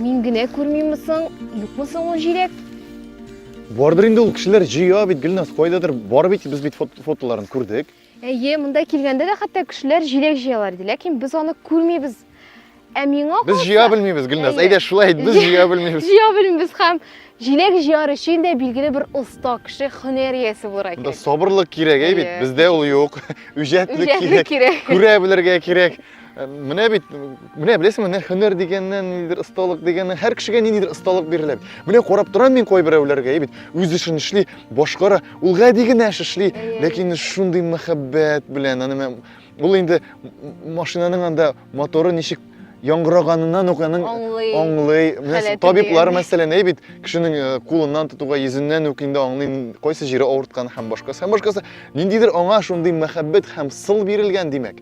Мин генә күрмиме соң, юкмы соң ул җиләк? Бардыр инде ул кешеләр җыя бит, Гөлназ, кайдадыр бар бит, без бит фотоларын күрдек. Әйе, монда килгәндә дә хәтта кешеләр җиләк җыялар иде, ләкин без аны күрмибез. Ә миңа Без җыя белмибез, Гөлназ. Әйдә, шулай ит, без җыя белмибез. Җыя белмибез һәм Җиләк җыяр өчен дә билгеле бер оста кеше, һөнәр иясе булырга кирәк. Монда сабырлык кирәк, әй бит, бездә ул юк. Үҗәтлек кирәк. Күрә белергә кирәк. Э, менә бит, менә беләсеңме, менә һөнәр дигәннән, ниндидер осталык дигәннән, һәр кешегә ниндидер осталык бирелә. Менә карап торам мин кайберәүләргә, әй бит, үз эшен эшли, башкара, ул гади генә эш эшли, ләкин шундый мәхәббәт белән, аны ул инде машинаның анда Моторы ничек яңгыраганынан ук аның аңлый. аңлый. Менә табиблар мәсәлән, әй бит, кешенең э, кулыннан тотуга, йөзеннән үк инде аңлый, кайсы җире авырткан һәм башкасы. Һәм башкасы, ниндидер аңа шундый мәхәббәт һәм сыл бирелгән, димәк.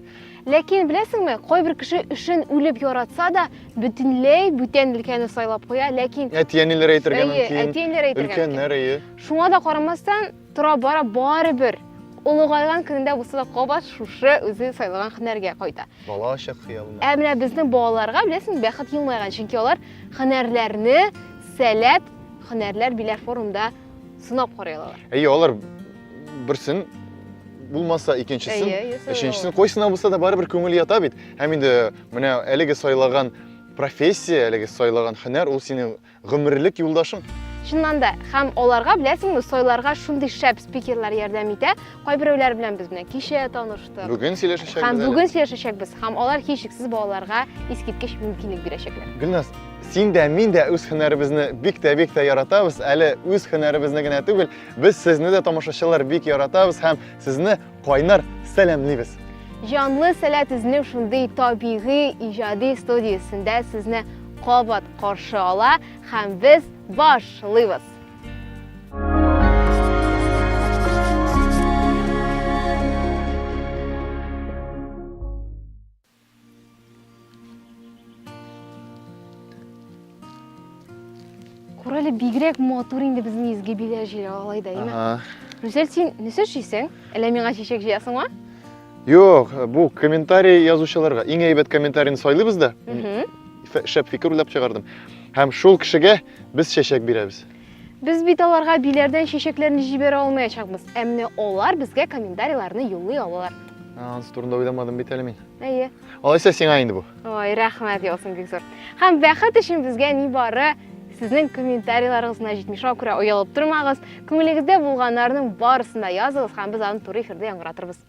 Ләкин беләсеңме, кайбер кеше эшен үлеп яратса да, бөтенләй бүтән өлкәне сайлап куя, ләкин әти-әниләр әйтергә мөмкин. Әти-әниләр әйтергә мөмкин. Өлкәннәр, әйе. Шуңа да карамастан, Тора-бара барыбер олыгайган көнендә булса да кабат шушы үзе сайлаган һөнәргә кайта. Бала чак хыялына. Ә менә безнең балаларга, беләсең, бәхет елмайган, чөнки алар һөнәрләрне сәләт һөнәрләр биләр форумда сынап карый алалар. Әйе, алар берсен булмаса икенчесен, өченчесен койсына булса да барыбер күңел ята бит. Һәм инде менә әлеге сайлаган профессия, әлеге сайлаган һөнәр ул синең Гомерлек юлдашың. Чыннан да, һәм аларга беләсеңме, сойларга шундый шәп спикерлар ярдәм итә. Кайберәүләр белән без менә кичә таныштык. Бүген сөйләшәчәкбез. Һәм бүген сөйләшәчәкбез, һәм алар һичшиксез балаларга искиткеч мөмкинлек бирәчәкләр. Гөлназ, син дә, мин дә үз һөнәребезне бик тә бик тә яратабыз. Әле үз һөнәребезне генә түгел, без сезне дә тамашачылар бик яратабыз һәм сезне Кайнар сәламлибез. Җанлы сәләт эзләү шундый табигый иҗади студиясендә сезне кабат каршы ала һәм без башлыйбыз. Күр әле бигрәк матур инде безнең изге биләр җире алай да, әйме? Рүзәл, син нәрсә эшлисең? Әллә миңа чәчәк җыясыңмы? Юк, бу комментарий язучыларга иң әйбәт комментарийны сайлыйбыз да. Шәп фикер уйлап чыгардым. Һәм шул кешегә без чәчәк бирәбез. Без бит аларга биләрдән чәчәкләрне җибәрә алмаячакбыз, ә менә алар безгә комментарийларны юллый алалар. Ансы турында уйламадым бит әле мин. Әйе. Алайса сиңа инде бу. Ой, рәхмәт яусын бик зур. Һәм бәхет өчен безгә ни бары сезнең комментарийларыгыз гына җитми. Шуңа күрә оялып тормагыз. Күңелегездә булганнарның барысын да языгыз һәм без аны туры эфирдә яңгыратырбыз.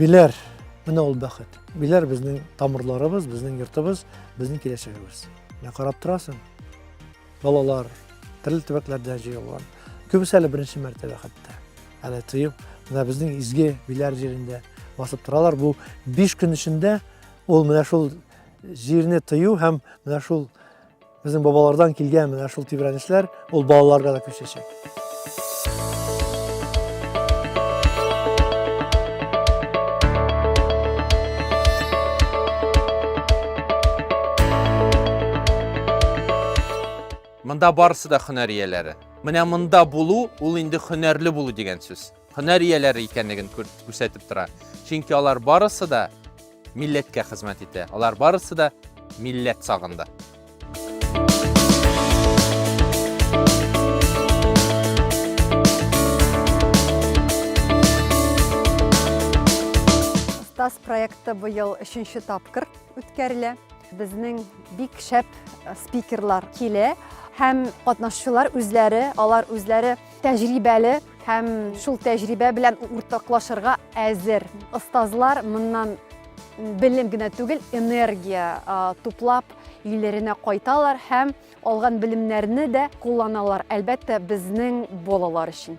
Биләр, менә ул бәхет. Биләр безнең тамырларыбыз, безнең йортыбыз, безнең киләчәгебез. Менә карап торасың, Балалар төрле төбәкләрдән җыелган. Күбесе әле беренче мәртәбә хәтта. Әле тоеп, менә безнең изге биләр җирендә басып торалар. Бу 5 көн эчендә ул менә шул җирне тыю һәм менә шул безнең бабалардан килгән менә шул тибрәнешләр ул балаларга да күчәчәк. Монда барысы да хөнәр ияләре. Менә монда булу, ул инде хөнәрле булу дигән сүз. һөнәр ияләре икәнлеген күрсәтеп тора. Чөнки алар барысы да милләткә хезмәт итә. Алар барысы да милләт сагында. Тас проекты быел өченче тапкыр үткәрелә. Безнең бик шәп спикерлар килә һәм катнашучылар үзләре, алар үзләре тәҗрибәле һәм шул тәҗрибә белән уртаклашырга әзер. Остазлар моннан белем генә түгел, энергия туплап өйләренә кайталар һәм алган белемнәрне дә кулланалар, әлбәттә, безнең балалар өчен.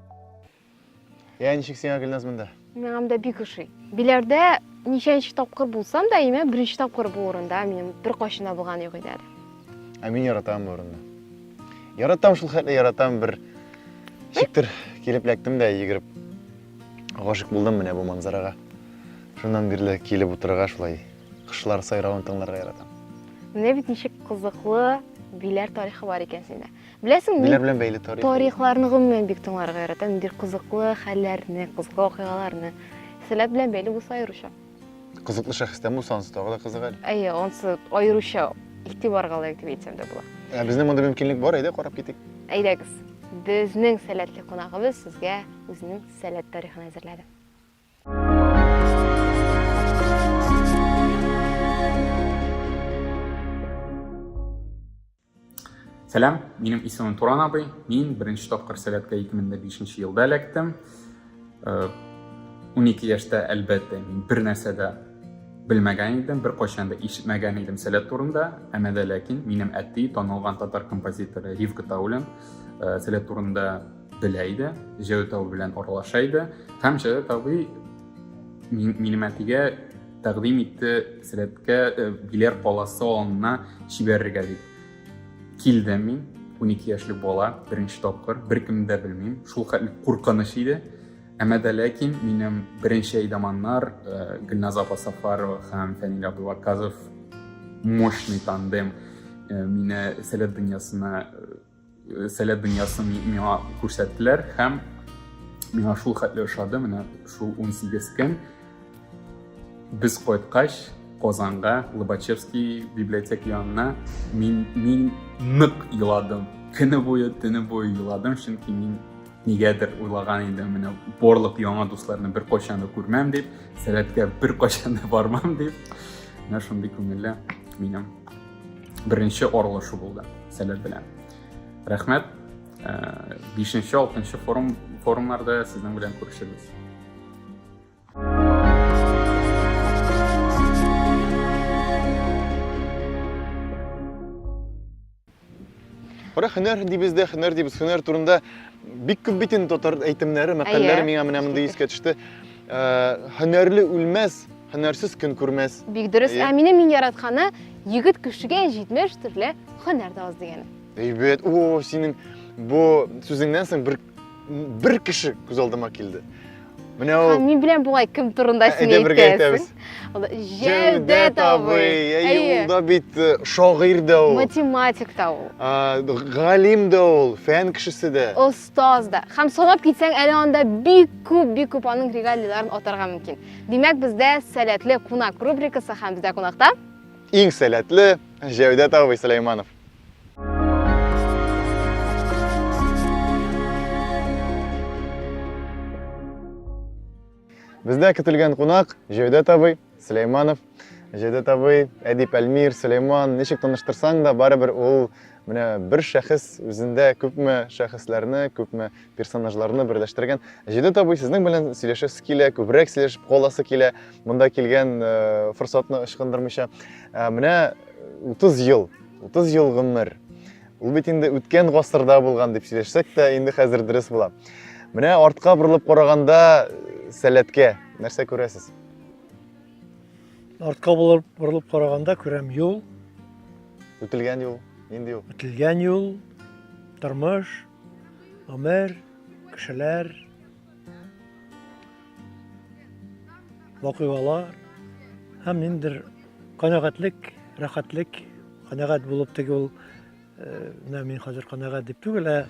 Я ничек сиңа Гөлназ монда? Миңам да бик ошый. Биләрдә ничәнче тапкыр булсам да, имә беренче тапкыр бу урында минем бер кашына булган юк иде әле. Ә мин яратам бу урынны. Яратам шул хәтле яратам бер шиктер килеп ләктем дә йөгереп гашык булдым менә бу манзарага. Шуннан бирле килеп утырырга шулай кышлар сайравын тыңларга яратам. Менә бит ничек кызыклы биләр тарихы бар икән синдә. Беләсең, мин белән бәйле тарих. Тарихларны гомумән бик тыңларга яратам. Бер кызыклы хәлләрне, кызыклы вакыйгаларны. Сәләт белән бәйле булса аеруча. Кызыклы шәхестән булса анысы тагы да кызык әле. Әйе, анысы аеруча игътибарга лаек дип әйтсәм дә була. Ә безнең монда мөмкинлек бар, әйдә карап китик. Әйдәгез. Безнең сәләтле кунагыбыз сезгә үзенең сәләт тарихын әзерләде. Сәлам, минем исемем Туран абый. Мин беренче тапкыр сәләткә 2005 елда эләктем. 12 э, яшьтә, әлбәттә, мин бер нәрсә дә белмәгән идем, бер кайчан да ишетмәгән идем сәләт турында. Әмма дә ләкин минем әти, танылган татар композиторы Ривка Таулин, э, сәләт турында белә иде, Җәү Тау белән аралаша иде. Һәм Җәү Тау минем әтигә тәкъдим итте сәләткә э, билер каласы алынына җибәрергә дип килдем мин унике яшьлек бала беренче тапкыр беркемне дә белмим шул хәтле куркыныч иде әмма дә ләкин минем беренче әйдаманнар э, гөлназ апа сафарова һәм фәнил абдулаказов мощный тандем э, мине сәләт дөньясына Э, сәләт дөньясын миңа күрсәттеләр һәм миңа шул хәтле ошады менә шул 18 көн без кайткач казанга лобачевский библиотека янына мин мин нык еладым көне буе төне буе еладым чөнки мин нигәдер уйлаган идем менә барлык яңа дусларны бер кайчан да күрмәм дип сәләткә бер кайчан да бармам дип менә шундый күңелле минем Беренче аралашу булды сәләт белән. Рәхмәт. Э, бишенче, алтынчы форум, форумнарда сезнең белән күрешербез. Ора хөнәр дибез дә, хөнәр дибез, хөнәр турында бик күп бит инде татар әйтемнәре, мәкальләре миңа менә монда искә төште. Э, һөнәрле үлмәс, Һөнәрсез көн күрмәс. Бик дөрес. Ә минем иң яратканы егет кешегә 70 төрле һөнәр дә аз дигәне. Әйбәт. О, синең бу сүзеңнән соң бер бер кеше күз алдыма килде. Менә ул. Мин беләм бугай кем турында ә, син әйтәсең. Җәүдәт абый. Әйе, ул да бит э, шагыйрь дә ул. Математик та ул. Галим дә ул, фән кешесе дә. Таз да. Һәм санап китсәң, әле анда бик күп, бик күп аның регалийларын атарга мөмкин. Димәк, бездә сәләтле кунак рубрикасы һәм бездә кунакта иң сәләтле Җәүдәт абый Сөләйманов. Бездә көтелгән кунак Җәүдәт абый Сөләйманов. Җәүдәт абый, Әдип Әлмир, Сөләйман, ничек таныштырсаң да, барыбер ул менә бер шәхес үзендә күпме шәхесләрне, күпме персонажларны берләштергән. Җәүдәт абый, сезнең белән сөйләшәсе килә, күбрәк сөйләшеп каласы килә, монда килгән э, форсатны ычкындырмыйча. Э, менә 30 ел, 30 ел гомер. Ул бит инде үткән гасырда булган дип сөйләшсәк тә, инде хәзер дөрес була. Менә артка борылып караганда сәләткә нәрсә күрәсез? Артка булып борылып караганда күрәм юл. Үтелгән юл, нинди юл? Үтелгән юл, тормыш, гомер, кешеләр, вакыйгалар һәм ниндидер канәгатьлек, рәхәтлек, канәгать булып теге ул э, менә мин хәзер канәгать дип түгел, ә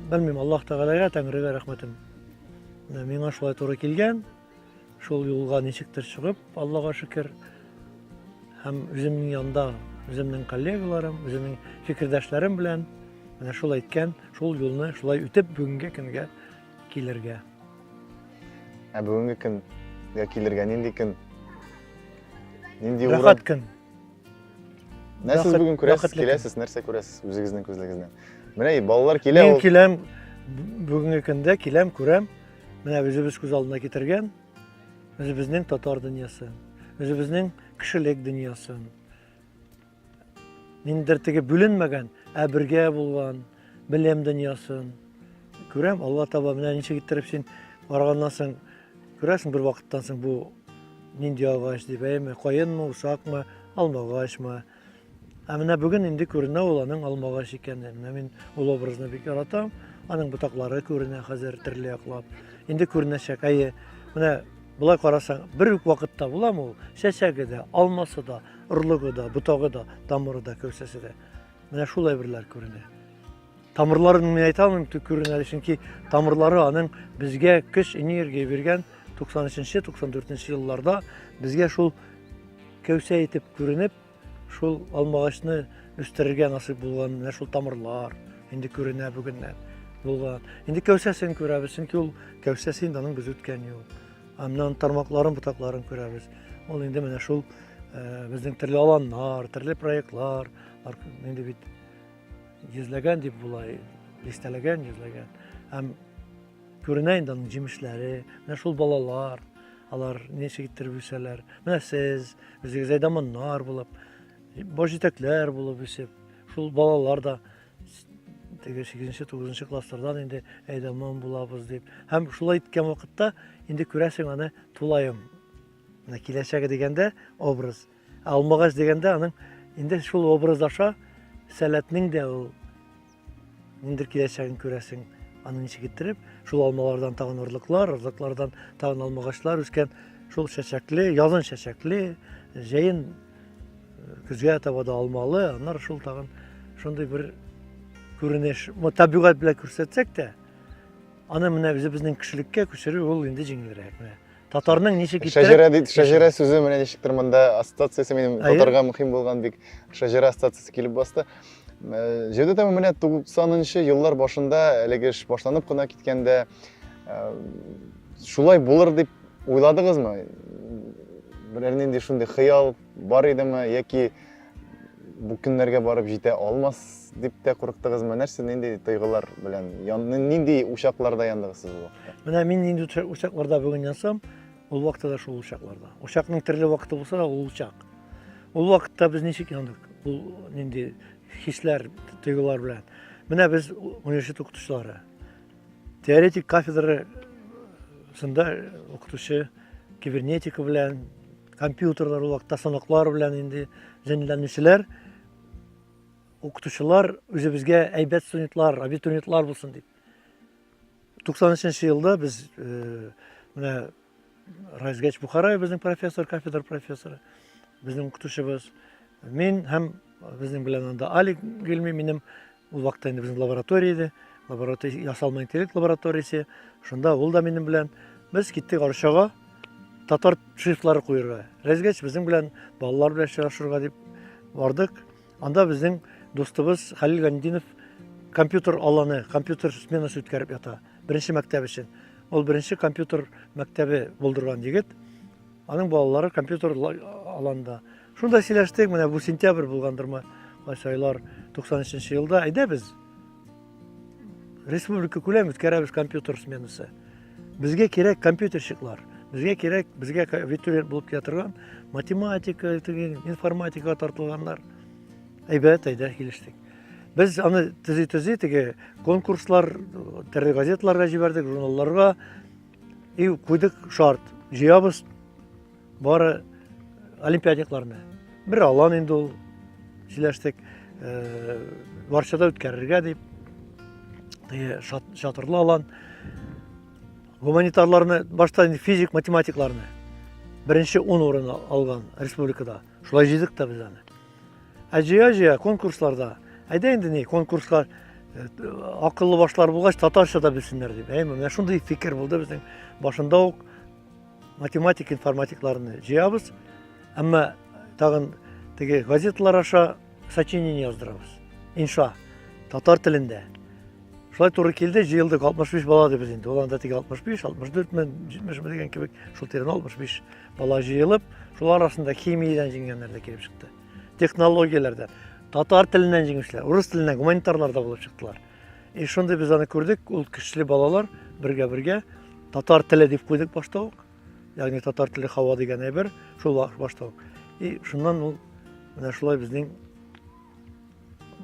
белмим, Аллаһ Тәгаләгә, Тәңрегә рәхмәтем. Менә миңа шулай туры килгән. Шул юлга ничектер чыгып, Аллага шөкер, һәм үземнең янда, үземнең коллегаларым, үземнең фикердәшләрем белән менә шул әйткән, шул юлны шулай үтеп бүгенге көнгә килергә. Ә бүгенге көнгә килергә нинди көн? Нинди урын? Рәхәт көн. Нәрсә сез бүген күрәсез, киләсез, нәрсә күрәсез үзегезнең күзлегегездән? Менә балалар килә. Мин киләм бүгенге көндә киләм, күрәм. Менә үзебез күз алдына китергән үзебезнең татар дөньясы, үзебезнең кешелек дөньясын. Ниндер теге бүленмәгән, ә бергә булган белем дөньясын. Күрәм, Алла таба менә ничек иттереп син барганнан соң күрәсең бер вакыттан соң бу нинди агач дип, әйме, каенмы, усакмы, алмагачмы, Ә менә бүген инде күренә ул аның алмагач икәне. Менә мин ул образны бик яратам. Аның ботаклары күренә хәзер төрле яклап. Инде күренәчәк. Әйе, менә болай карасаң, бер үк вакытта буламы ул? Чәчәге дә, алмасы да, орлыгы да, ботагы да, тамыры да, кәүсәсе дә. Менә шул әйберләр күренә. Тамырларын мин әйтә алмыйм төкерен әле, чөнки тамырлары аның безгә көч, энергия биргән 93-94 елларда безгә шул кәүсә итеп күренеп, шул алмагачны үстерергә насыйп булган менә шул тамырлар инде күренә бүгеннән булган. Инде кәүсәсен күрәбез, чөнки ул кәүсәсе инде аның без үткән юл. Аннан тармакларын, ботакларын күрәбез. Ул инде менә шул э, безнең төрле аланнар, төрле проектлар, инде бит Йөзләгән дип болай, дистәләгән, йөзләгән. Һәм күренә инде аның җимешләре, менә шул балалар, алар ничек иттереп үсәләр. Менә сез, үзегез әйдаманнар булып, баш җитәкләр булып үсеп, шул балалар да теге 8-9 класслардан инде әйдаман булабыз дип. Һәм шулай иткән вакытта инде күрәсең аны тулаем. Менә киләчәге дигәндә образ – Ә алмагач дигәндә аның инде шул образ аша сәләтнең дә ул ниндер киләчәген күрәсең. Аны ничек иттереп, шул алмалардан тагын орлыклар, орлыклардан тагын алмагачлар үскән, шул чәчәкле, язын чәчәкле, җәен көзгә таба да алмалы, аннары шул тагын шундый бер күренеш. Бу табигать белән күрсәтсәк тә, аны менә үзебезнең кешелеккә күчерү ул инде җиңелрәк. Менә татарның ничек иттереп шәҗәрә бит шәҗәрә сүзе менә ничектер монда ассоциациясе минем татарга мөһим булган бик шәҗәрә ассоциациясе килеп басты э, җәүдәт әмин менә туксанынчы еллар башында әлеге эш башланып кына киткәндә э, шулай булыр дип уйладыгызмы берәр нинди шундый хыял бар идеме яки Бу көннәргә барып җитә алмас дип тә курыктыгызмы? Нәрсә, нинди тойгылар белән, нинди учакларда яндыгыз сез ул вакытта? Менә мин нинди учакларда бүген янсам, ул вакытта да шул учакларда. Учакның төрле вакыты булса да, ул учак. Ул вакытта без ничек яндык? Ул нинди хисләр, тойгылар белән. Менә без университет укытучылары. Теоретик кафедра сында укытучы кибернетика белән, компьютерлар ул вакытта санаклар белән инде җәнләнүчеләр укытучылар үзебезгә әйбәт студентлар, абитуриентлар булсын дип. 93 елда без э, менә Райзгач Бухарай безнең профессор, кафедра профессоры, безнең укытучыбыз. Мин һәм безнең белән анда Али Гилми, минем ул вакытта инде безнең лаборатория иде, лаборатория, ясалма интеллект лабораториясе, шунда ул да минем белән. Без киттек Арчага, татар шрифтлары куерга. Рәзгәч безнең белән балалар белән очрашырга дип бардык. Анда безнең дустыбыз Хәлил Гандинов компьютер аланы, компьютер сменасы үткәреп ята. Беренче мәктәп өчен. Ул беренче компьютер мәктәбе булдырган егет. Аның балалары компьютер аланда. Шунда сөйләштек, менә бу сентябрь булгандырмы, кайсы айлар 93 елда. Әйдә без республика күләм үткәрәбез компьютер сменасы безгә кирәк компьютерщиклар безгә кирәк безгә абитуриент булып килә торган математика информатикага тартылганнар әйбәт әйдә килештек без аны төзи төзи теге конкурслар төрле газеталарга җибәрдек журналларга и куйдык шарт җыябыз Бары олимпиадикларны. Бер алан инде ул сөйләштек. Э, Варшада үткәрергә дип. Теге шатырлы алан. Гуманитарларны, башта инде физик математикларны беренче 10 урыны алган республикада. Шулай җыйдык та без аны. Ә җыя-җыя конкурсларда, әйдә инде ни, конкурска э, акыллы башлар булгач, татарча да белсеннәр дип. Әйме, менә шундый фикер булды безнең башында ук Математик информатикларны җыябыз, әмма тагын теге газеталар аша сочинение яздырабыз. Инша татар телендә. Шулай туры килде, җыелдык 65 бала да без инде. Ул анда теге 65, 64 мен, 70 мен дигән кебек, шул тирән 65 бала җыелып, шул арасында химиядән җиңгәннәр дә килеп чыкты. Технологияләрдән, татар теленнән җиңүчеләр, урыс теленнән гуманитарлар да булып чыктылар. И шундый без аны күрдек, ул көчле балалар бергә-бергә татар теле дип куйдык башта ук. Ягъни татар теле хава дигән әйбер шул башта ук. И шуннан ул менә шулай безнең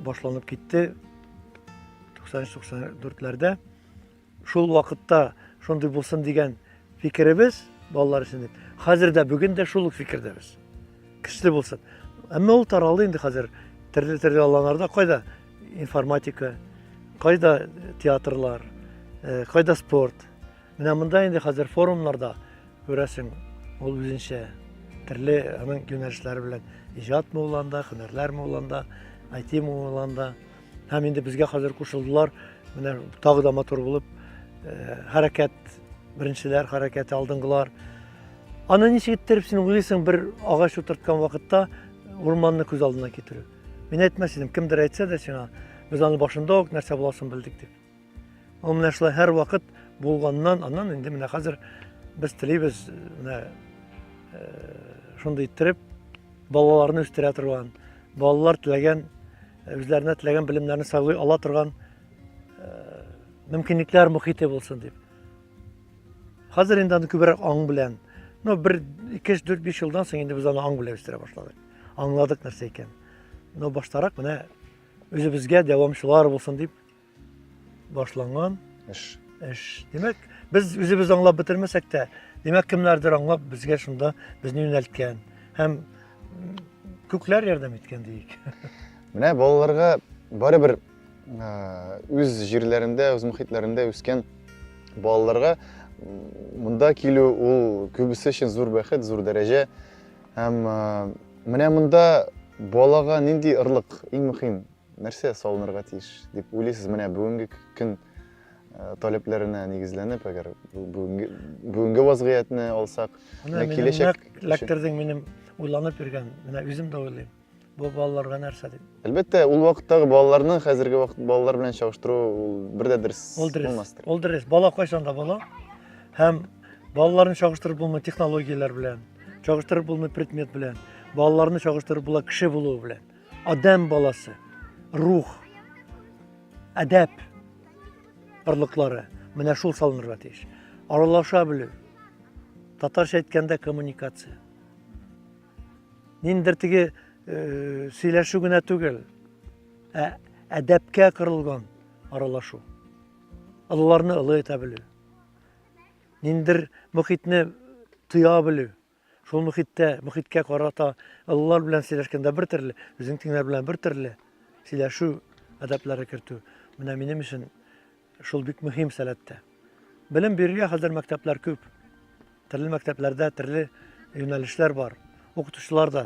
башланып китте 93-94-ләрдә. Шул вакытта шундый булсын дигән фикеребез, балалар өчен дип, хәзер дә, бүген дә шул ук фикердәбез. Көчле булсын. Әмма ул таралды инде хәзер төрле-төрле аланнарда, кайда информатика, кайда театрлар, э, кайда спорт. Менә монда инде хәзер форумнарда күрәсең, ул үзенчә төрле аның юнәлешләре белән иҗат мулланда, һөнәрләр мулланда, IT мулланда. Һәм инде безгә хәзер кушылдылар. Менә тагы да матур булып э, хәрәкәт беренчеләр хәрәкәте алдынгылар. Аны ничек иттереп син уйлыйсың бер агач утырткан вакытта урманны күз алдына китерү? Мин әйтмәс идем, кемдер әйтсә дә сиңа, без аны башында ук нәрсә буласын белдек дип. Ул менә шулай һәрвакыт булганнан, аннан инде менә хәзер без телибез менә шундый иттереп балаларны үстерә торган, балалар теләгән, үзләренә теләгән белемнәрне сайлый ала торган мөмкинлекләр мөхите булсын дип. Хәзер инде аны күбрәк аң белән, ну бер 2-4-5 елдан соң инде без аны аң белән үстерә башладык. Аңладык нәрсә икән. Но баштарак менә үзебезгә дәвамчылар булсын дип башланган эш. Эш. Димәк, без үзебез аңлап бетермәсәк тә, димәк, кемнәрдер аңлап безгә шунда безне юнәлткән һәм күкләр ярдәм иткән диик. Менә балаларга барыбер үз җирләрендә, үз мөхитләрендә үскән балаларга монда килү ул күбесе өчен зур бәхет, зур дәрәҗә. Һәм менә монда балага нинди ырлык иң мөһим? Нәрсә салынырга тиеш дип уйлыйсыз? Менә бүгенге көн э, таләпләренә нигезләнеп, әгәр бүгенге бүгенге вазгыятьне алсак, менә киләчәк эләктердең минем уйланып йөргән, менә үзем дә уйлыйм. Бу балаларга нәрсә дип? Әлбәттә, ул вакыттагы балаларны хәзерге вакыт балалар белән чагыштыру ул бер дә дөрес булмастыр. Ул дөрес. Бала кайчан да бала. Һәм балаларны чагыштырып булмый технологияләр белән, чагыштырып булмый предмет белән, балаларны чагыштырып була кеше булуы белән. Адәм баласы, рух, әдәп барлыклары менә шул салынырга тиеш. Аралаша белү, татарча әйткәндә коммуникация. Ниндер теге э, сөйләшү генә түгел, ә әдәпкә кырылган аралашу. Олыларны олы итә белү. Ниндер мөхитне тоя белү. Шул мөхиттә, мөхиткә карата олылар белән сөйләшкәндә бер төрле, үзең тиңнәр белән бер төрле сөйләшү әдәпләре кертү. Менә минем өчен шул бик мөһим сәләттә. Белем бирергә хәзер мәктәпләр күп. Төрле мәктәпләрдә төрле юнәлешләр бар. Укытучылар да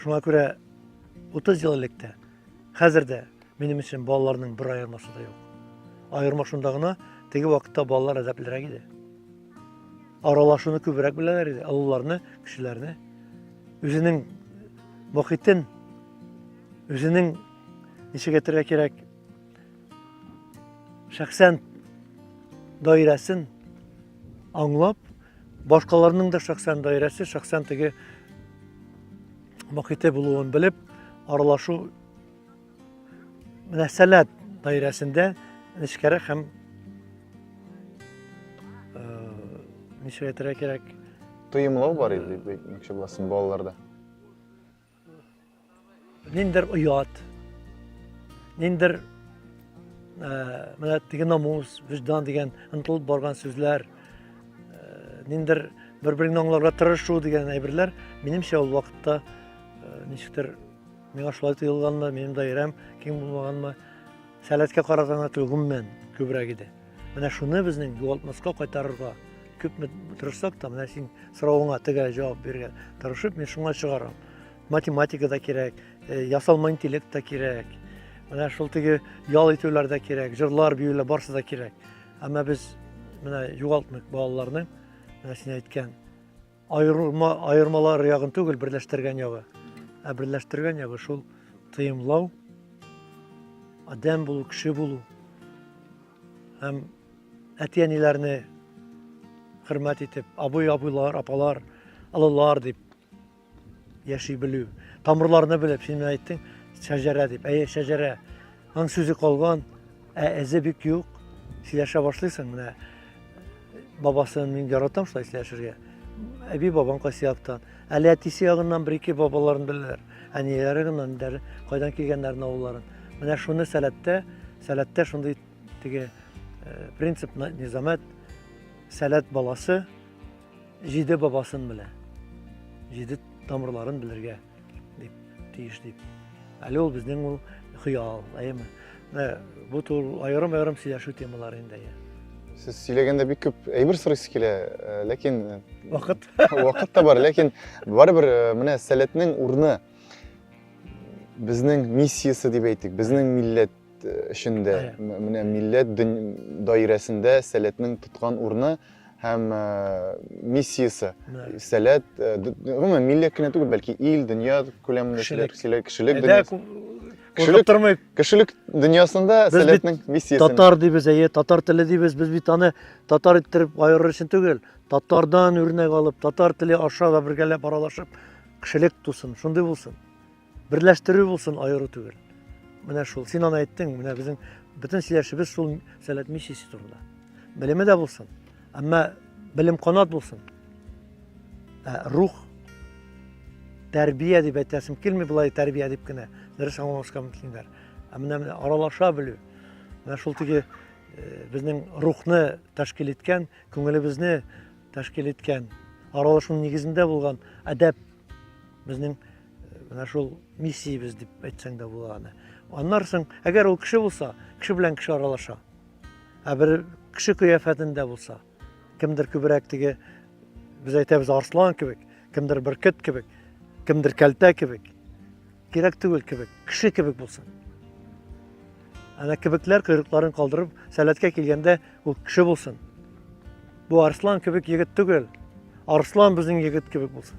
Шуңа күрә 30 ел элек тә, хәзер дә минем өчен балаларның бер аермасы да юк. Аерма шунда гына, теге вакытта балалар әдәплерәк иде. Аралашуны күбрәк беләләр иде, олыларны, кешеләрне. Үзенең мохитен, үзенең ничек әйтергә кирәк, шәхсән даирәсен аңлап, Башкаларның да шәхсән даирәсе, шәхсән теге мохите булуын белеп, аралашу мәсәләт даирәсендә нечкәрә һәм э, ничек әйтергә кирәк? Тоемлау бар иде, мөмкин булсын, балаларда. Ниндер оят, ниндер э, менә теге намус, виждан дигән ынтылып барган сүзләр, э, ниндер бер-береңне аңларга тырышу дигән әйберләр, минемчә ул вакытта э, ничектер миңа шулай тоелганмы, минем даирәм киң булмаганмы, Сәләткә караганда гомумән күбрәк иде. Менә шуны безнең югалтмаска кайтарырга күпме тырышсак та, менә син соравыңа тегә җавап бирергә тырышып, мин шуңа чыгарам. Математика да кирәк, э, ясалма интеллект та кирәк. Менә шул теге ял итүләр дә кирәк, җырлар, биюләр барысы да кирәк. Әмма без менә югалтмыйк балаларны, менә син әйткән Аерылма, аермалар ягын түгел, берләштергән ягы. Ә берләштергән ягы шул тыемлау, адәм булу, кеше булу. Һәм әти-әниләрне хөрмәт итеп, абый-абыйлар, апалар, алылар дип яши белү. Тамырларны белеп, син әйттең, шәҗәрә дип. Әйе, шәҗәрә. Аның сүзе калган, ә эзе бик юк. Сөйләшә башлыйсың, менә бабасын мин яратам шулай сөйләшергә. Әби бабам кайсы яктан. Әле әтисе ягыннан бер-ике бабаларын беләләр. Әниләре генә нидәр, кайдан килгәннәрен, авылларын. Менә шуны сәләттә, сәләттә шундый теге э, принцип низамәт сәләт баласы җиде бабасын белә. Җиде тамырларын белергә. Дип, тиеш дип. Әле ул безнең ул хыял, әйеме? Бу тул аерым-аерым сөйләшү темалары инде. Сез сөйләгәндә бик күп әйбер сорыйсы килә, э, ләкин э, вакыт вакыт та бар, ләкин барыбер э, менә сәләтнең урны безнең миссиясе дип әйтик, безнең милләт эшендә, менә милләт даирәсендә сәләтнең тоткан урыны һәм миссиясе. Сәләт, гомумән, милләт кенә түгел, бәлки ил, дөнья күләмендә кешелек, кешелек дөньясы. Кешелек тормый. Кешелек дөньясында сәләтнең миссиясе. Татар дибез, әйе, татар теле дибез, без бит аны татар иттереп аерыр өчен түгел. Татардан үрнәк алып, татар теле аша да бергәләп аралашып, кешелек тусын, шундый булсын. Берләштерү булсын, аеру түгел. Менә шул. Син аны әйттең, менә безнең бөтен сөйләшебез шул сәләт миссиясе турында. Белеме дә булсын, әмма белем канат булсын. Ә рух тәрбия дип әйтәсем килми былай тәрбия дип кенә. Дөрес аңламаска мөмкиннәр. Ә менә менә аралаша белү. Менә шул теге э, безнең рухны тәшкил иткән, күңелебезне тәшкил иткән, аралашу нигезендә булган әдәп безнең Менә шул миссиябез дип әйтсәң дә була аны. Аннар соң, әгәр ул кеше булса, кеше белән кеше аралаша. Ә бер кеше кыяфәтендә булса, кемдер күбрәк теге без әйтәбез арслан кебек, кемдер бөркет кебек, кемдер кәлтә кебек, кирәк түгел кебек, кеше кебек булсын. Әнә кебекләр койрыкларын калдырып, сәләткә килгәндә ул кеше булсын. Бу арслан кебек егет түгел. Арслан безнең егет кебек булсын.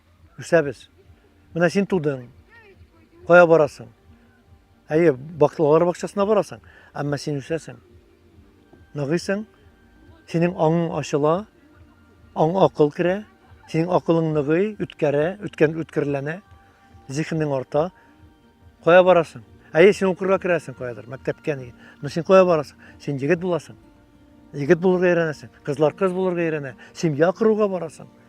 Үсәбез. Менә син тудың. Кая барасың? Әйе, баклылар бакчасына барасың, әмма син үсәсең. Ныгыйсың, синең аңың ачыла, аң акыл керә, синең акылың ныгый, үткәрә, үткән үткерләнә, зихенең арта. Кая барасың? Әйе, син укырга керәсең каядыр, мәктәпкә ни. Но син кая барасың? Син егет буласың. Егет булырга өйрәнәсең, кызлар кыз булырга өйрәнә, семья коруга барасың.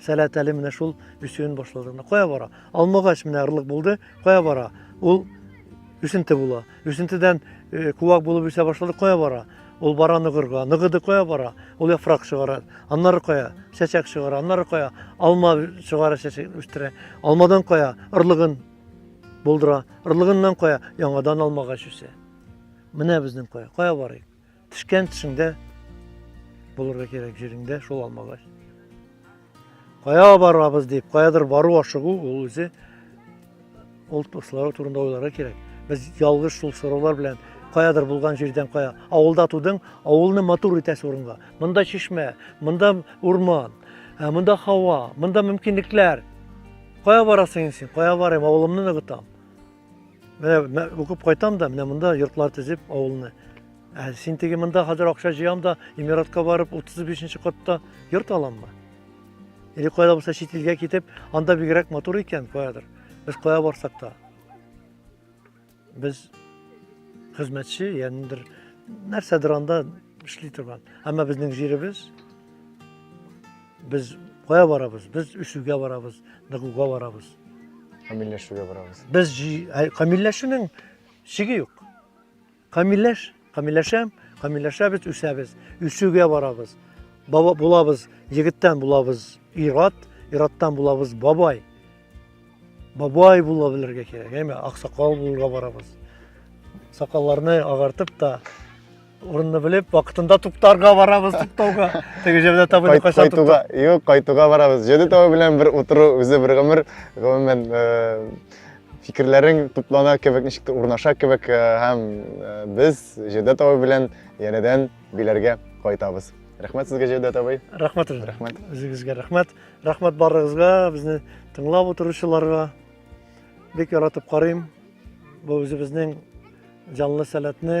Сәләт әле менә шул үсүен башлады. Менә кая бара? Алмагач менә ырлык булды. Кая бара? Ул үсенте була. Үсентедән э, куак булып үсә башлады. Кая бара? Ул бара ныгырга. Ныгыды кая бара? Ул яфрак чыгара. Аннары кая? Чәчәк чыгара. Аннары кая? Алма чыгара, чәчәк үстерә. Алмадан кая? Ырлыгын булдыра. Ырлыгыннан кая? Яңадан алмагач үсә. Менә безнең кая? Кая барыйк? Пешкән төшеңдә булырга кирәк җиреңдә шул алмагач. Кая барабыз дип, каядыр бару ашыгу ул үзе ул туслары турында уйларга кирәк. Без ялгыш шул сораулар белән каядыр булган җирдән кая. Авылда тудың, авылны матур итәсе урынга. Монда чишмә, монда урман, ә монда һава, монда мөмкинлекләр. Кая барасың син? Кая барыйм? Авылымны ныгытам. Менә укып кайтам да, менә монда йортлар төзеп авылны. Ә син теге монда хәзер акча җыям да, Эмиратка барып 35-нче катта йорт аламмы? Или кайда булса чит илгә китеп, анда бигрәк матур икән каядыр. Без кая барсак та. Без хезмәтче, ягънидер нәрсәдер анда эшли торган. Әмма безнең җиребез Без кая барабыз? Без үсүгә барабыз, ныгуга барабыз. Камилләшүгә барабыз. Без камилләшүнең чиге юк. Камилләш, камилләшәм, камилләшәбез, үсәбез, үсүгә барабыз. Баба булабыз, егеттән булабыз ират, ираттан булабыз бабай. Бабай була белергә кирәк, әйме, аксакал булырга барабыз. Сакалларны агартып та Урынны белеп, вакытында туктарга барабыз, туктауга. Теге җирдә табыны кайчан туктау? Юк, кайтуга барабыз. Җиде табы белән бер утыру үзе бер гомер, гомумән фикерләрең туплана кебек, ничек урнаша кебек э, һәм э, без Җәүдәт табы белән янәдән биләргә кайтабыз. Рәхмәт сезгә Җәүдәт абый. Рәхмәт үзегезгә. Рәхмәт. Үзегезгә рәхмәт. Рәхмәт барыгызга, безне тыңлап утыручыларга. Бик яратып карыйм. Бу үзебезнең җанлы сәләтне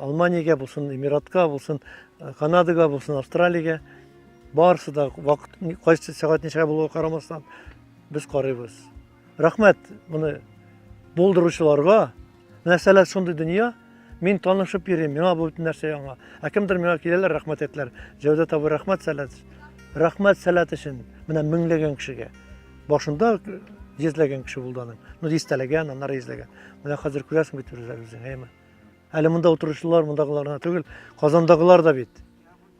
Алманиягә булсын, Эмиратка булсын, Канадага булсын, Австралиягә барысы да вакыт кайсы сәгать ничә булуга карамастан без карыйбыз. Рәхмәт моны булдыручыларга. Нәрсәләр шундый дөнья, мин танышып йөрим, миңа бу бөтен нәрсә яңа. Ә кемдер миңа киләләр, рәхмәт әйтләр. Җәүдәт абый, рәхмәт сәләт. Рәхмәт сәләт өчен менә меңләгән кешегә. Башында йөзләгән кеше булды аның. Ну, дистәләгән, аннары йөзләгән. Менә хәзер күрәсең бит үзләрегез, әйме? Әле монда утыручылар мондагылар гына түгел, Казандагылар да бит,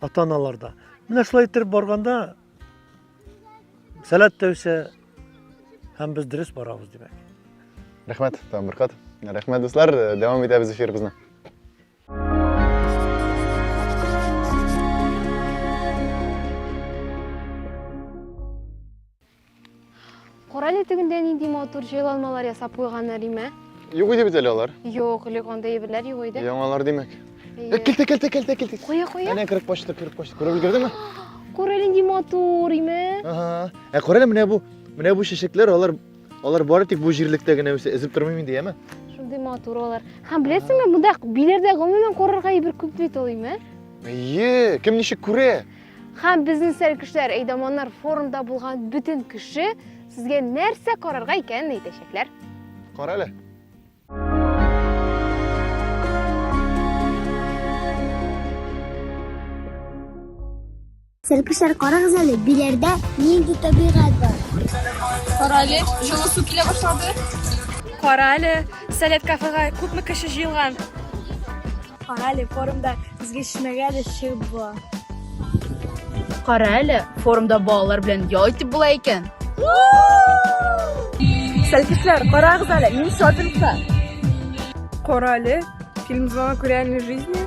ата-аналар да. Менә шулай иттереп барганда сәләт тә үсә һәм без дөрес барабыз, димәк. Рәхмәт, Тамбыркат. Рәхмәт, дуслар. Дәвам итәбез эфирыбызны. Кара әле тегендә нинди матур җайланмалар ясап куйганнар, имә. Юк иде бит әле алар. Юк, элек анда әйберләр юк иде. Яңалар димәк. Әйе. Килте, килте, килте, килте. Куя, куя. Әнә кереп почта, кереп почта. Күреп өлгердеңме? Кара әле нинди матур, имә. Ага. Ә кара әле менә бу, менә бу чәчәкләр, алар алар бары тик бу җирлектә генә үсә. Эзеп тормыйм инде, яме? Шундый матур алар. Һәм беләсеңме, монда биләрдә гомумән карарга әйбер күп бит ул, имә. Әйе, кем ничек күрә? Хәм безнең сәр кешеләр әйдаманнар форумда булган бүтін кеше сезгә нәрсә карарга икәнен әйтәчәкләр. Кара әле. Сәркешләр карагыз әле, биләрдә нинди табигать бар. Кара әле, җылы су килә башлады. Кара әле, Сәләт кафега күпме кеше җыелган? Кара әле, форумда безгә чимәгә дә чыгып була. Кара әле, форумда балалар белән ял итеп була икән. Сәлкисләр, карагыз әле, мин шопингта. Кара әле, фильм звонок реальной жизни.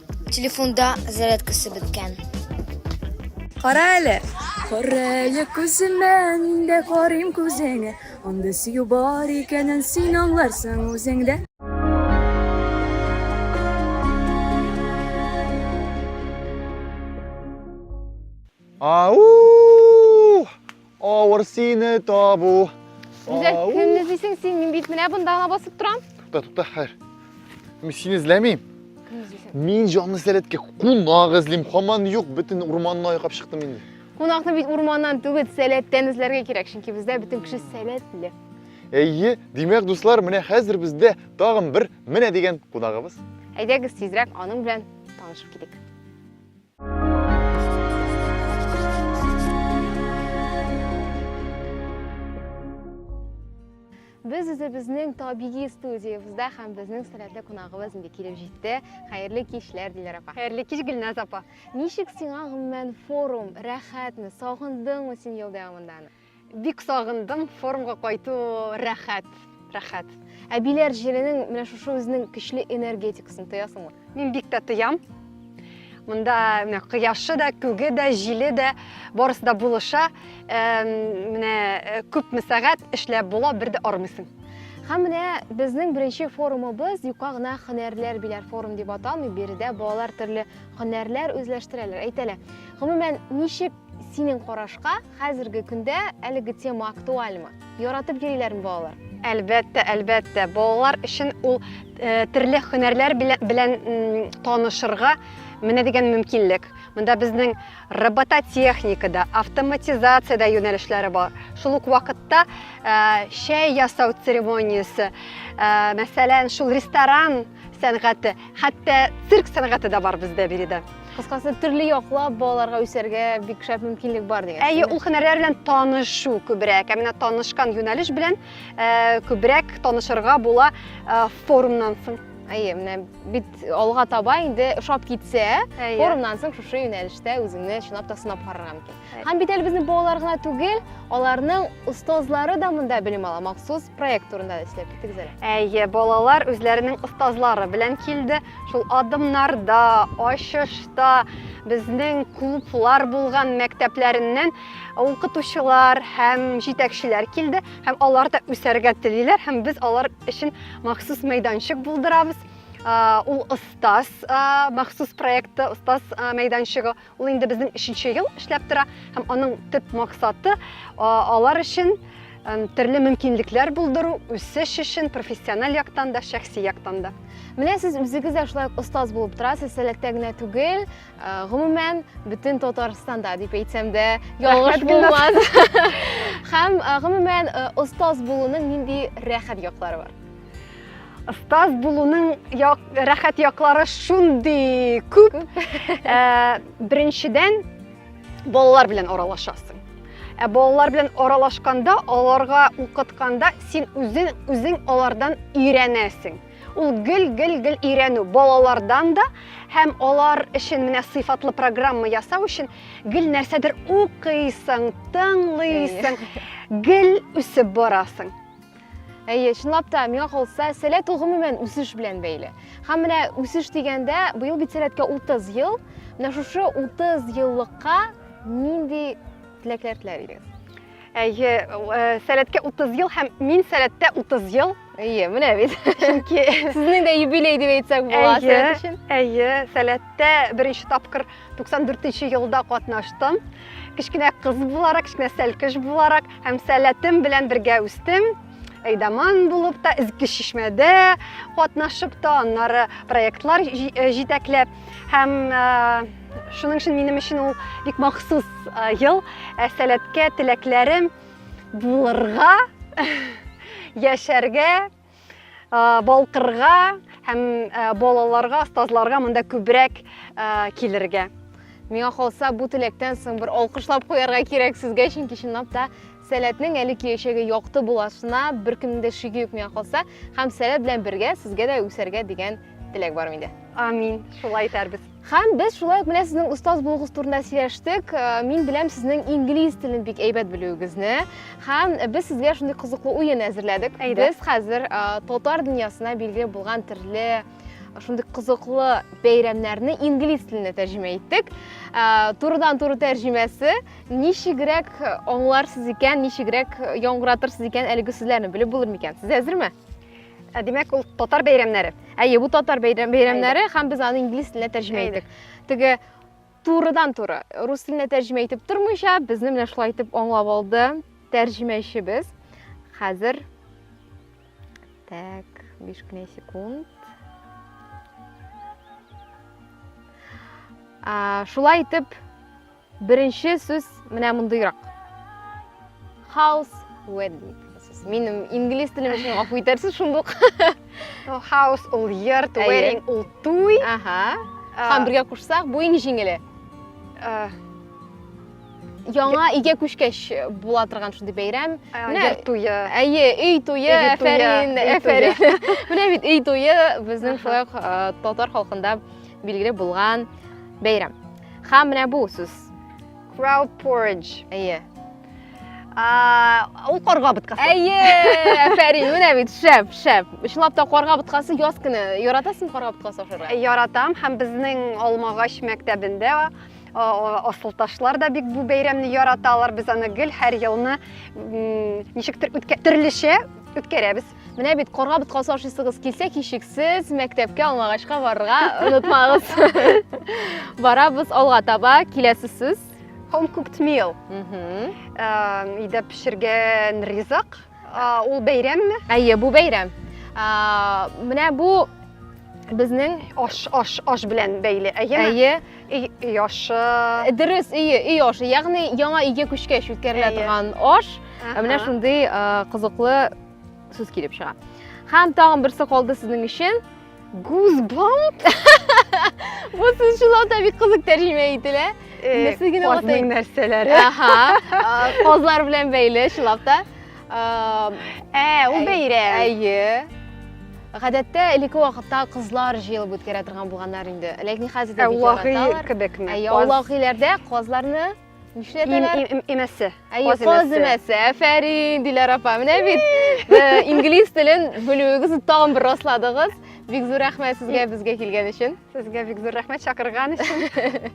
Телефонда зарядкасы беткән. Кара әле. Кара әле күземә, мин дә карыйм күзеңә. Анда сөю бар икәнен син аңларсың үзеңдә. Ау! Авыр сине табу. Гүзәл, Ау! кемне эзлисең син? Мин бит менә бында гына басып торам. Тукта, тукта, хәер. Мин сине эзләмим. Кемне эзлисең? Мин җанлы сәләткә кунак эзлим. Хаман юк, бөтен урманны айкап чыктым инде. Кунакны бит урманнан түгел, сәләттән эзләргә кирәк, чөнки бездә бөтен кеше сәләтле. Әйе, димәк, дуслар, менә хәзер бездә тагын бер менә дигән кунагыбыз. Әйдәгез тизрәк аның белән танышып китик. Без үзебезнең табигый студиябездә һәм безнең сәләтле кунагыбыз инде килеп җитте. Хәерле кичләр, Диләр апа. Хәерле кич, Гөлназ апа. Ничек сиңа гомумән форум? Рәхәтме? Сагындыңмы син ел дәвамында аны? Бик сагындым, форумга кайту рәхәт, рәхәт. Әбиләр җиренең менә шушы үзенең көчле энергетикасын тоясыңмы? Мин бик тә тоям. Монда менә кояшы да, күге дә, җиле дә, барысы да булыша. Менә э, күпме сәгать эшләп була, бер дә армыйсың. Һәм менә безнең беренче форумыбыз юка гына һөнәрләр биләр форум дип аталмый, биредә балалар төрле һөнәрләр үзләштерәләр, әйтәләр. Гомумән, ничек Синең карашка, хәзерге көндә әлеге тема актуальмы? Яратып йөриләрме балалар? Әлбәттә, әлбәттә, балалар өчен ул э, төрле һөнәрләр белән танышырга менә дигән мөмкинлек. Монда безнең робототехникада, автоматизациядә юнәлешләре бар. Шул ук вакытта э, чәй ясау церемониясе, э, мәсәлән, шул ресторан сәнгате, хәтта цирк сәнгате дә бар бездә биредә. Кыскасы, төрле яклап балаларга үсәргә бик шәп мөмкинлек бар дигән. Әйе, ул һөнәрләр белән танышу күбрәк. Ә менә танышкан юнәлеш белән э, күбрәк танышырга була э, форумнан соң. Әйе, менә бит алга таба инде ошап китсә, форумнан соң шушы юнәлештә үзеңне чынлап та сынап карарга мөмкин. Һәм бит әле безнең балалар гына түгел, аларның остазлары да монда белем ала. Махсус проект турында да сөйләп киттегез әле. Әйе, балалар үзләренең остазлары белән килде. Шул адымнарда, ачышта безнең клублар булган мәктәпләреннән укытучылар һәм җитәкчеләр килде. Һәм алар да үсәргә телиләр һәм без алар өчен махсус мәйданчык булдырабыз. Ул остаз махсус проекты, остаз мәйданчыгы. Ул инде безнең өченче ел эшләп тора һәм аның төп максаты алар өчен төрле мөмкинлекләр булдыру, үсеш өчен профессиональ яктан да, шәхси яктан да. Менә сез үзегез дә шулай остаз булып торасыз, Сәләттә генә түгел, гомумән бөтен Татарстанда дип әйтсәм дә ялгыш булмас. Һәм гомумән остаз булуның нинди рәхәт яклары бар? Остаз булуның як, рәхәт яклары шундый күп. ә, беренчедән, балалар белән аралашасың. Ә балалар белән аралашканда, аларга укытканда син үзең үзең алардан өйрәнәсең. Ул гел гел гел өйрәнү балалардан да һәм алар өчен менә сыйфатлы программа ясау өчен гел нәрсәдер укыйсың, тыңлыйсың, гел үсеп барасың. Әйе, чынлап та, миңа калса, сәләт ул гомумән үсеш белән бәйле. Һәм менә үсеш дигәндә, быел бит сәләткә 30 ел. Менә шушы 30 еллыкка нинди теләкләр теләр идегез? Әйе, э, сәләткә 30 ел һәм мин сәләттә 30 ел. Әйе, менә бит. Чөнки сезнең дә юбилей дип әйтсәк була сәләт өчен. Әйе, сәләттә беренче тапкыр 94 нче елда катнаштым. Кечкенә кыз буларак, кечкенә сәлкеш буларак һәм сәләтем белән бергә үстем. Әйдаман булып та, изге чишмәдә катнашып та, аннары проектлар э, җитәкләп һәм э, шуның өчен минем өчен ул бик махсус э, ел. Ә сәләткә теләкләрем булырга, яшәргә, балкырга һәм балаларга, остазларга монда күбрәк килергә. Миңа калса, бу теләктән соң бер алкышлап куярга кирәк сезгә, чөнки чынлап та сәләтнең әле киләчәге якты буласына беркемнең дә шиге юк миңа калса, һәм сәләт белән бергә сезгә дә үсәргә дигән теләк бар миндә. Амин. Шулай итәрбез. Һәм без шулай ук менә сезнең остаз булуыгыз турында сөйләштек. Э, мин беләм сезнең инглиз телен бик әйбәт белүегезне. Һәм без сезгә шундый кызыклы уен әзерләдек. Без хәзер э, татар дөньясына билгеле булган төрле э, шундый кызыклы бәйрәмнәрне инглиз теленә тәрҗемә иттек. Турыдан туры тәрҗемәсе ничегрәк аңларсыз икән, ничегрәк яңгыратырсыз икән әлеге сүзләрне белеп булыр микән? Сез әзерме? Ә димәк, ул татар бәйрәмнәре. Әйе, бу татар бәйрәм, бәйрәмнәре һәм без аны инглиз теленә тәрҗемә иттек. Теге турыдан туры рус теленә тәрҗемә итеп тормыйча, безне менә шулай итеп аңлап алды тәрҗемәчебез. Хәзер Так, 5 кенә секунд. А, шулай итеп Беренче сүз менә мондыйрак. House wedding. Минем инглиз телем өчен гафу итәрсез шундук. House ул йорт, wedding ул туй. Ага. Һәм бергә кушсак, бу иң җиңеле. Яңа өйгә күчкәч була торган шундый бәйрәм. Менә туе. Әйе, өй туе, әфәрин, әфәрин. Менә бит өй туе безнең шулай татар халкында билгеле булган бәйрәм. Ха, менә бу сүз. Crowd porridge. Әйе. Ул карга боткасы. Әйе, әфәрин, менә бит, шәп, шәп. Чынлап та карга боткасы яз көне. Яратасың карга боткасы ашарга? Э, яратам һәм безнең Алмагач мәктәбендә асылташлар да бик бу бәйрәмне яраталар. Без аны гел һәр елны ничектер төрлечә үткәрәбез. Менә бит карга боткасы ашыйсыгыз килсә, кичексез мәктәпкә алмагачка барырга онытмагыз. Барабыз алга таба, киләсе сүз. Home cooked meal. Өйдә пешергән ризык. Ул бәйрәмме? Әйе, бу бәйрәм. Менә бу безнең аш аш аш белән бәйле әйеме әйе өй ашы дөрес өе өй ашы ягъни яңа өйгә күчкәч үткәрелә торган аш менә шундый кызыклы сүз килеп чыга һәм тагын берсе калды сезнең өчен гузбамп бу сүз чынлап бик кызык тәрҗемә ителә нәрсә генә атайын нәрсәләре казлар белән бәйле чынлап та ә ул бәйрәм әйе гадәттә элекке вакытта кызлар җыелып үткәрә торган булганнар инде ләкин хәзер дә бик яраталар әүлахи кебекме әүлахиләрдә казларны Нишләп Им, им, им, имәсе. Әйе, каз имәсе. Әфәрин, Диләр апа. Менә бит э, инглиз телен белүегезне тагын бер расладыгыз. Бик зур рәхмәт сезгә безгә килгән өчен. Сезгә бик зур рәхмәт чакырган өчен.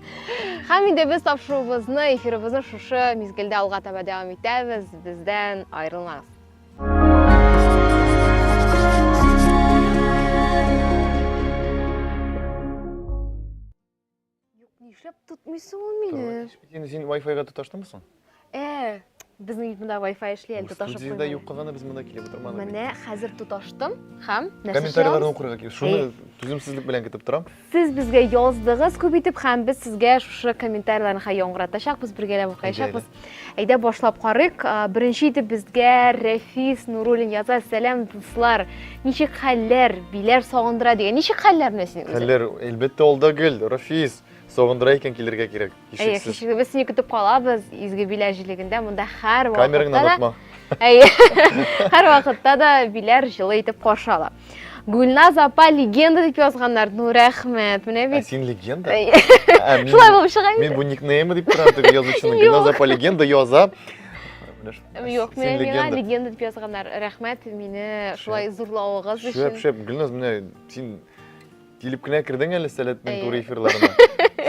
Һәм инде без тапшыруыбызны, эфирыбызны шушы мизгелдә алга таба дәвам итәбез. Бездән аерылмагыз. Юк, нишләп тотмыйсың ул мине? Син, син Wi-Fi-га тоташтыңмы соң? Э, безнең бит монда Wi-Fi эшли әле тоташып куймый. Студиядә юк кызны без монда килеп утырмадык. Менә хәзер тоташтым һәм нәрсә Комментарийларны укырга килеп, шуны түземсезлек белән көтеп торам. Сез безгә яздыгыз күп итеп һәм без сезгә шушы комментарийларны хәй яңгыратачакбыз, бергәләп укыячакбыз. Әйдә башлап карыйк. Беренче итеп безгә Рәфис Нуруллин яза. Сәлам, дуслар. Ничек хәлләр? Биләр сагындыра дигән. Ничек хәлләр менә синең үзең? Хәлләр, әлбәттә, алда гел, Рәфис. Сагындыра икән килергә кирәк. Әйе, һичшиксез. Без сине көтеп калабыз Изге Биләр җилегендә. Монда һәр вакытта да... Камераңны онытма. Әйе. Һәр вакытта да Биләр җылы итеп каршы ала. гүлназ апа легенда дип язганнар ну рәхмәт менә бит ә син легенда шулай булып чыга мин бу никнеймы дип торам теге язучының гүлназ апа легенда яза Юк, мен миңа легенда дип язганнар. Рәхмәт мине шулай зурлавыгыз өчен. Шәп, шәп, Гөлназ, менә син Килеп кенә кердең әле Сәләтнең Әйе. туры эфирларына.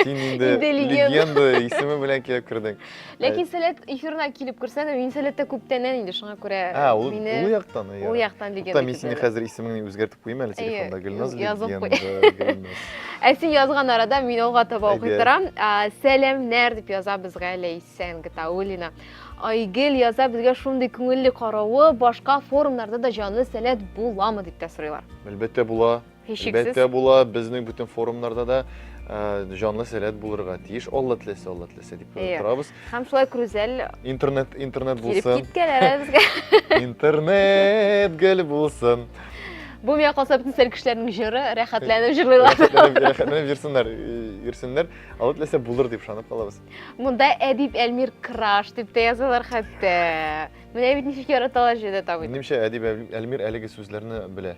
Син инде Инде легенда. легенда исеме белән килеп кердең. Ләкин Сәләт эфирына килеп керсә дә, мин Сәләттә күптәннән инде, шуңа күрә Ә, ул мине ул яктан. ул ярар. яктан легенда. Тукта, мин сине китерде. хәзер исемеңне үзгәртеп куйыйм әле Әйе, телефонда. Гөлназ язып куй. легенда, Гөлназ. Ә син язган арада мин алга таба Әйдә. укый торам. А, Сәламнәр дип яза безгә Ләйсән Гатауллина. Айгөл яза безгә шундый күңелле каравы, башка форумнарда да җанлы Сәләт буламы дип тә сорыйлар. Әлбәттә була. Һичшиксез. Әлбәттә була, безнең бөтен форумнарда да э, җанлы сәләт булырга тиеш. Алла теләсә, Алла теләсә дип Иә. торабыз. Һәм шулай күрүзәл Интернет, интернет килеп булсын. киткән әле безгә. Интернет гел булсын. Бу миңа калса бөтен сәл кешеләрнең җыры, рәхәтләнеп җырлыйлар. Рәхәтләнеп рәхәтләнеп йөрсеннәр, э, йөрсеннәр. Алла теләсә булыр дип ышанып калабыз. Монда Әдип Әлмир краш дип тә язалар хәтта. Менә бит ничек яраталар җирдә табыйт. Минемчә, Әдип Әл- Әлмир әлеге сүзләрне белә.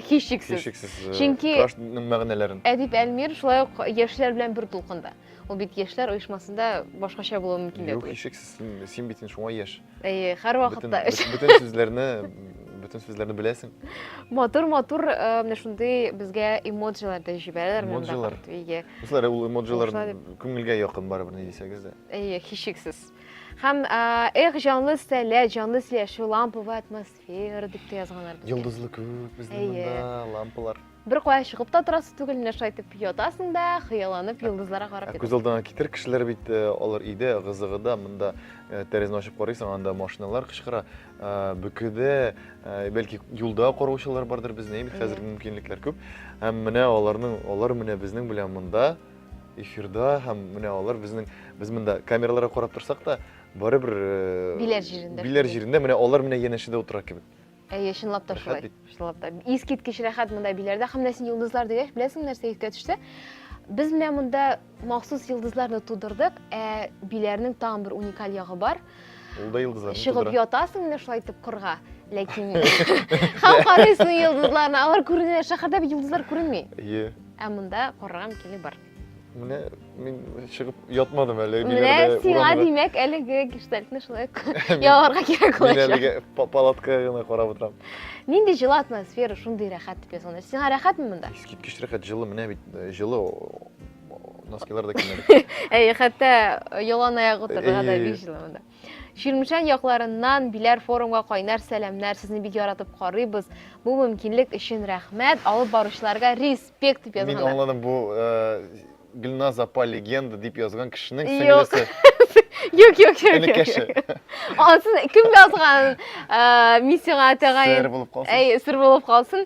һичшиксез һичшиксез э, чөнки крашның мәгънәләрен әдип әлмир шулай ук яшьләр белән бер дулкында ул бит яшьләр оешмасында башкача булуы мөмкин дә юк һичшиксез син бит шуңа яшь әйе һәрвакытта бөтен сүзләрне бөтен сүзләрне беләсең матур матур э, менә шундый безгә эмоджилар да җибәрәләр эмоджилар өйгә дуслар ул эмоджилар күңелгә якын барыбер ни дисәгез дә әйе һичшиксез һәм эх җанлы сәләт җанлы сөйләшү ламповый атмосфера Фейер дип тә язганнар безгә. Йолдызлы күк безнең монда, лампалар. Бер кая чыгып та торасы түгел, менә шулай итеп ятасың да, хыялланып йолдызларга карап ятасың. Күз алдына китер кешеләр бит э, алар өйдә, гызыгыда, монда э, тәрәзәне ачып карыйсың, анда машиналар кычкыра, э, бөкедә, бәлки юлда караучылар бардыр безне, бит хәзер мөмкинлекләр күп. Һәм менә аларның, алар менә безнең белән монда эфирда һәм менә алар безнең без монда камераларга карап торсак та барыбер э, Биләр җирендә биләр шундый. җирендә менә алар менә янәшәдә утыра кебек Әйе, чынлап та Рәхәт шулай. бит. Чынлап та. Искиткеч рәхәт монда биләрдә. Һәм менә син йолдызлар дигәч, беләсең нәрсә искә төште? Без менә монда махсус йолдызларны тудырдык, ә биләрнең тагын бер уникаль ягы бар. ул да йолдызларны Чыгып тудыра. ятасың менә шулай итеп кырга, ләкин һәм карыйсың йолдызларны. Алар күренә, шәһәрдә бит йолдызлар күренми. Әйе. Ә монда карарга мөмкинлек бар. Менә мин чыгып ятмадым әле. Менә сиңа димәк әлеге гештальтны шулай яларга кирәк булачак. Мин әлеге палатка гына карап утырам. Нинди җылы атмосфера, шундый рәхәт дип язган. Сиңа рәхәтме монда? Искиткеч рәхәт, җылы, менә бит э, җылы носкилар да кимәде. Әй, хәтта ялан аяк утырырга да бик җылы монда. Чирмешән якларыннан Биләр форумга кайнар сәламнәр. Сезне бик яратып карыйбыз. Бу мөмкинлек өчен рәхмәт. Алып баручыларга респект дип язганнар. Мин аңладым, бу э, Гөлназ апа легенда дип язган кешенең сеңлесе. Юк, юк, юк. Энекәше. Ансын кем язган э, миссиягә тәгаен. Сер булып калсын. Әй, сер булып калсын.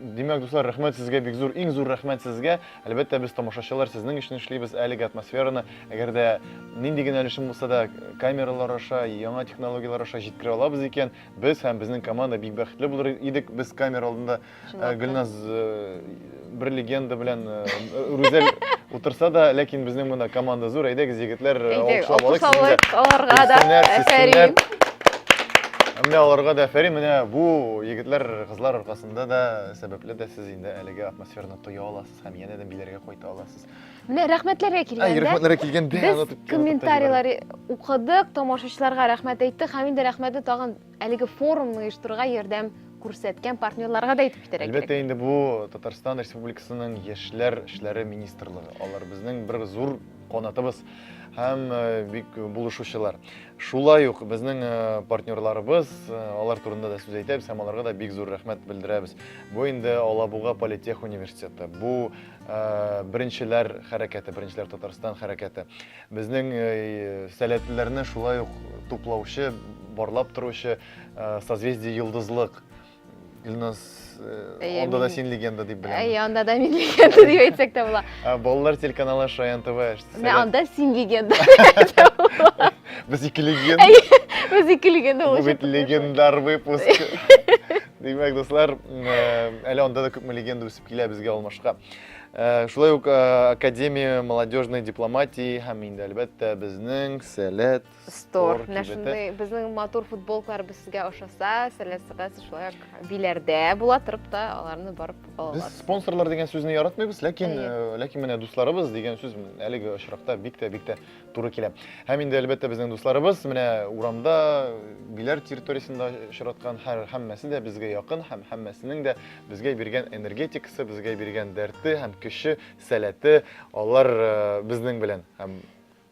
Димәк, дуслар, рәхмәт сезгә, бик зур, иң зур рәхмәт сезгә. Әлбәттә, без тамашачылар сезнең өчен эшлибез әлеге атмосфераны. Әгәр дә нинди генә өлешем булса да камералар аша, яңа технологияләр аша җиткерә алабыз икән, без һәм безнең команда бик бәхетле булыр идек. Без камера алдында э, Гөлназ э, бер легенда белән э, Рүзәл утырса да, ләкин безнең монда команда зур. Әйдәгез, егетләр, э, Әйдәгез, алкышлап алыйк сезне дә. алкышлавык аларга да. Сизсеннәр, сизсеннәр. Әфәрин. Менә аларга да әфәрин. Менә бу егетләр Кызлар аркасында да, сәбәпле дә сез инде әлеге атмосфераны тоя аласыз һәм янә дә биләргә кайта аласыз. Менә рәхмәтләргә килгәндә. Рәхмәтләргә килгәндә. Без комментарийлар укыдык, тамашачыларга рәхмәт әйттек һәм инде рәхмәтне тагын әлеге форумны оештырырга ярдәм күрсәткән партнерларга да әйтеп китәргә кирәк. Әлбәттә инде бу Татарстан Республикасының яшьләр эшләре министрлыгы. Алар безнең бер зур канатыбыз һәм бик булышучылар. Шулай ук безнең э, партнерларыбыз, э, алар турында да сүз әйтәбез һәм аларга да бик зур рәхмәт белдерәбез. Бу инде Алабуга политех университеты. Бу э, беренчеләр хәрәкәте, беренчеләр Татарстан хәрәкәте. Безнең сәләтлеләрне шулай ук туплаучы, барлап торучы созвездие Йолдызлык Илназ, э, анда да син легенда дип беләм. Әй, анда да мин легенда дип әйтсәк тә була. Балалар телеканалы Шаян ТВ. Менә анда син легенда. Без ике легенда. Без ике легенда булып. Бу бит легендар выпуск. Димәк, дуслар, э, әле анда да күпме легенда үсеп килә безгә алмашка. Э, шулай ук Академия молодежной дипломатии һәм инде әлбәттә безнең Сәләт Стор. Менә шундый безнең матур футболкалар без сезгә ошаса, сәләсәгез шулай ук биләрдә була торып та аларны барып ала аласыз. Без спонсорлар дигән сүзне яратмыйбыз, ләкин э, ләкин менә дусларыбыз дигән сүз әлеге очракта бик тә бик тә туры килә. Һәм инде әлбәттә безнең дусларыбыз менә урамда биләр территориясендә очраткан һәр һәммәсе дә безгә якын һәм һәммәсенең дә безгә биргән энергетикасы, безгә биргән дәрте һәм көче, сәләте алар э, безнең белән. Һәм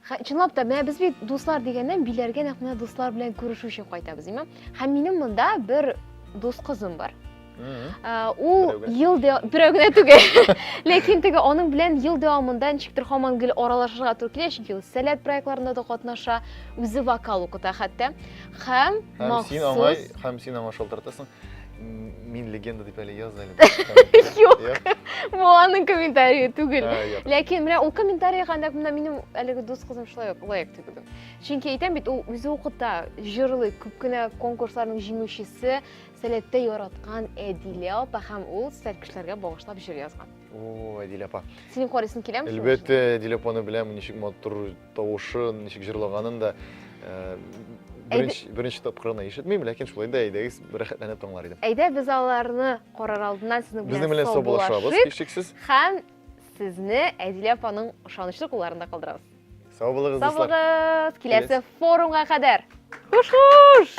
Хә, чынлап та, менә без бит дуслар дигәннән, биләргә нәкъ менә дуслар белән күрешү өчен кайтабыз, дим. Һәм минем монда бер дус кызым бар. Ул ел берәү генә түгел. Ләкин теге аның белән ел дәвамында ничектер һаман гел аралашырга туры килә, чөнки ул сәләт проектларында да катнаша, үзе вокал укыта хәтта. Һәм махсус... Һәм син аңа шалтыратасың. Мин легенда дип әле яз әле. Юк. Бу аның комментарии түгел. Ләкин менә ул комментарий гандак менә минем әлеге дус кызым шулай ук лайк түгелдем. Чөнки әйтәм бит, ул үзе укыта, җырлый, күп кенә конкурсларның җиңүчесе, сәләттә яраткан Әдилә апа һәм ул сәл кешеләргә багышлап җыр язган. О, Әдилә апа. Синең карыйсың киләме? Әлбәттә, Әдилә апаны беләм, ничек матур Тавышы ничек җырлаганын да беренче, беренче тапкырына ишетмим, ләкин шулай да әйдәгез рәхәтләнеп тыңлар идем. Әйдә без аларны карар алдыннан сезнең белән, белән саубуллашабыз, һичшиксез. Һәм сезне Әдилә апаның ышанычлы кулларында калдырабыз. Сау булыгыз, Сау булыгыз, киләсе форумга кадәр. Хуш-хуш!